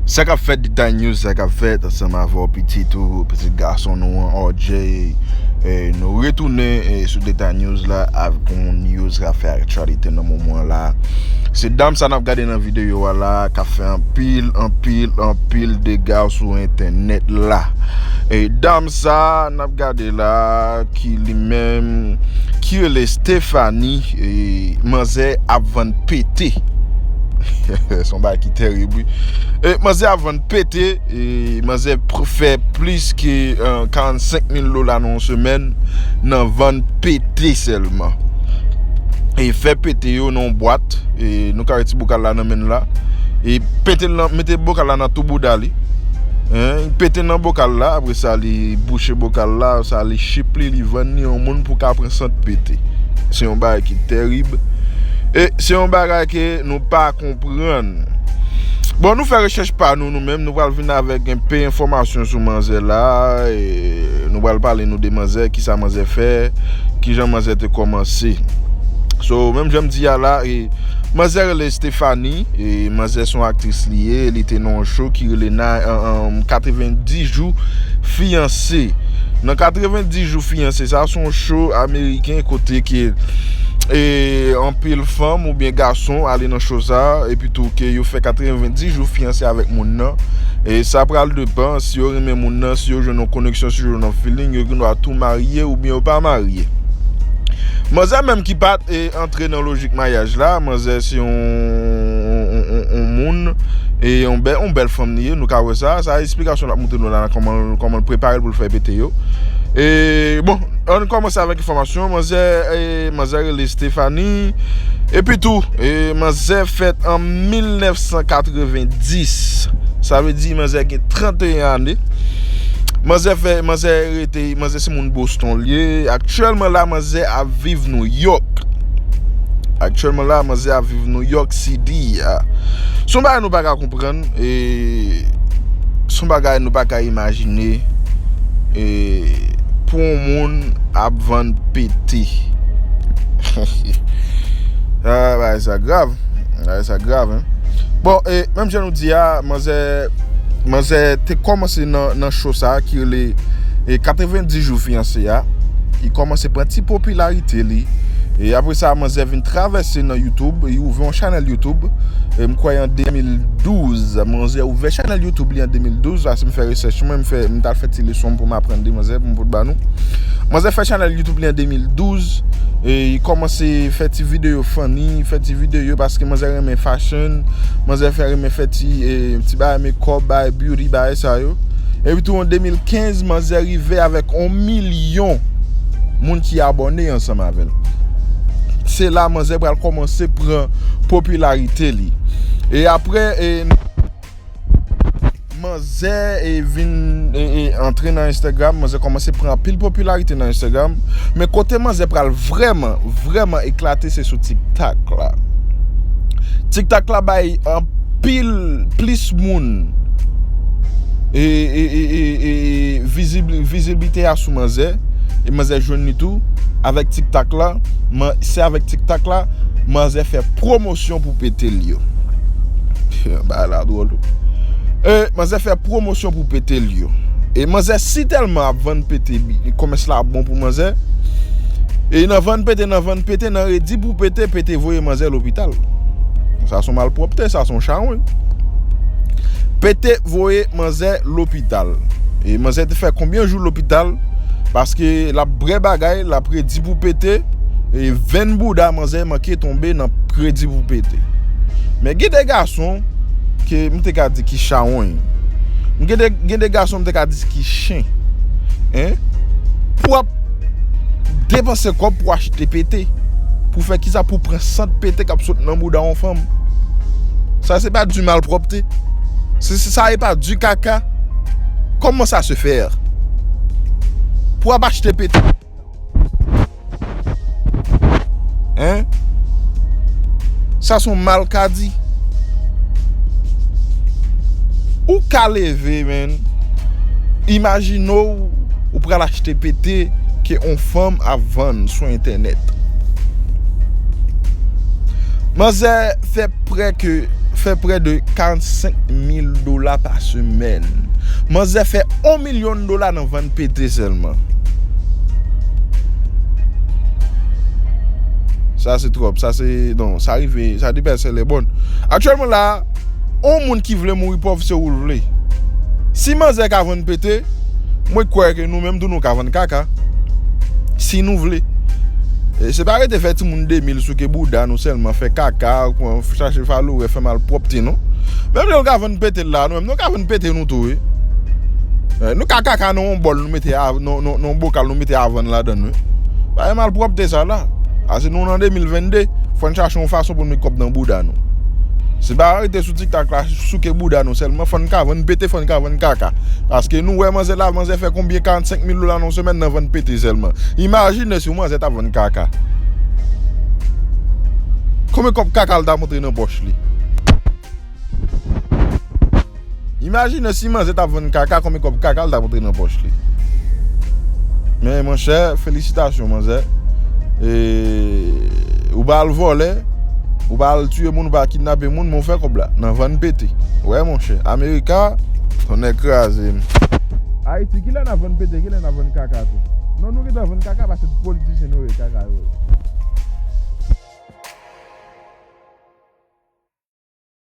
Sa kap fèt detay news sa kap fèt ansanm avè w pitit ou pitit gason nou an RJ nou retounen sou detay news la avèk yon news kap fè aktyalite nan moman la se dam sa nap gade nan videyo a la kap fè anpil anpil anpil dega sou entènèt la e dam sa nap gade la ki li menm ki rele Stephanie manzè ap vann pete son bagay ki terib wi manzè ap vann pete manzè fè plis ke 45 mil dola nan yon semèn nan vann pete sèlman e fè pete yo nan yon bwat nou ka wè ti bokal la nan menl la e pete nan mete bokal la nan tou bouda li pete nan bokal la Sa li bouche bokal la, sa li chip li, li vann li yon moun pou ka pran sant pete. Se yon bagay ki terib. E se yon bagay ke nou pa konprann. Bon nou fè rechèch pa nou nou menm, nou pral vin avèk yon pe enfòmasyon sou manzè la, nou pral pale nou de manzè, ki sa manzè fè, ki jan manzè te kòmanse. So, menm jan m di a la, manzè rele. Stephanie, manzè son aktris li ye, li te nan yon show ki rele 90 jou fiyanse. Nan 90 jou fiyanse sa, son show ameriken kote ke anpil fanm ou byen gason ale nan show sa, epi tou ke yo fè 90 jou fiyanse avèk moun nan. E sa pral depan si yo renmen moun nan, si yo jwenn yon koneksyon, si yo jwenn yon feeling, yo gen dwa tou marye ou byen yo pa marye. Manzè menm ki pa. antre nan lojik maryaj la, manzè se yon moun, e yon bèl fanm li ye, nou ka wè sa, sa a esplikasyon l ap montre nou la, kòman l prepare l pou l fè pete yo. E, bon, an n kòmanse avèk enfòmasyon, manzè, manzè rele Stéphanie, epi tou, e, manzè fèt an 1990, sa vle di manzè gen 31 ane, manzè fè, manzè rete. te manzè se moun Boston li ye aktyèlman la manzè ap viv New York aktyèlman la manzè ap viv New York CD a son bagay nou pa ka konprann e son bagay nou pa ka imajine e pou yon moun ap vann pete hehe a bagay sa grav bagay sa grav bon e menm jan nou di a manzè Manzè te kòmanse nan show sa ki rele 90 jou fiyanse a Li kòmanse pran ti popilarite li E apre sa manzè vin travèse nan youtube Li ouvè yon chanèl youtube M kwè an 2012 Manzè ouvè chanèl youtube li an 2012 Ase m fè research mwen m tal fè ti leson pou m aprann de manzè pou m pot ba nou Manzè fè chanèl youtube li an 2012 E li kòmanse fè ti videyo funny Fè ti videyo paske manzè renmen fashion Manzè fè renmen fè ti Ti bagay mekòp, bagay beauty, bagay sa yo. Epi tou an 2015 manzè rive avèk 1 milyon moun ki abòne ansanm avè l. Se la manzè pral kòmanse pran popilarite li. E apre e manzè e vin e antre nan Instagram, manzè kòmanse pran anpil popilarite nan Instagram. Men kote manzè pral vrèman, vrèman eklate se sou TikTok la. TikTok la bay an. pil plis moun viziblite a sou manzè e manzè jwenn li tou avèk tik tak la se avèk tik tak la manzè fè pwomosyon pou pete l yo bagay la dwòl wi manzè fè pwomosyon pou pete l yo e manzè si tèlman ap vann pete komès la ap bon pou manzè e nan vann pete nan vann pete nan redi pou pete pete voye manzè lopital. Sa son malpropte, sa son chawony. Pete voye manzè lopital. E manzè te fè konbyen jou lopital, paske la bre bagay, la predi pou pete, e venn bouda manzè manke tonbe nan predi pou pete. Men gen de gason, ke m te ka di ki chawony. Gen de gason m te ka di ki chen. Pou Depanse kòb pou achte pete. Pou fè kisa pou pran sant pete kap sot nan bouda yon fanm. Sa se pa di malpropte. Sa e pa di kaka. Koman sa se fer. Pou ap achte pete. Hein. Sa son mal kadi. Ou ka leve men. Imagine ou. Ou pral achte pete ke yon fanm ap vann sou entènèt. Manzè fè prè ke fè prè de 45 mil dola pa semèn. Manzè fè yon milyon dola nan vann pete sèlman. Sa se twòp, sa se, non, sa rive, sa depase lè bon. Aktyèlman la. On moun ki vle mouri pòv se oul vle. Si manzè ka vann pete, mwen kwè ke nou menm tou nou ka vann kaka. Si nou vle. Se pa rete fè timoun demil souke bouda nou sèlman, fè kaka, chache faloure, fè malpwòpte non. Menm lè nou ka vann pete la nou menm nou ka vann pete nou tou wi. Nou ka kaka nan on bòl. Nou mete a nan bokal nou mete avann ladan wi. Pa gen malpropte sa la. Ase nou nan 2022, fò n chache yon fason pou n met kòb nan bouda nou. Se pa rete sou tiktak la souke bouda nou sèlman, fò n ka vann pete, fò n ka vann kaka. Paske nou wè manzè la, manzè fè konbyen 45 mil dola nan yon semèn nan vann pete sèlman. Imajine si yon manzè ta vann kaka. Konbyen kòb kaka l ta montre nan pòch li? Imajine si manzè tap vann kaka konbyen kob kakal tap antre nan poch li Men monchè felisitasyon manzè e ou pa al vòlè ou pa al tiye moun ou pa kidnape moun men ou fè kob la nan vann pete wè monchè amerika tonnè kraze m. Ayiti kilè nap vann pete kilè nap vann kaka tou non nou gentan vann kaka pase tout politisyen nou ye kaka yo ye.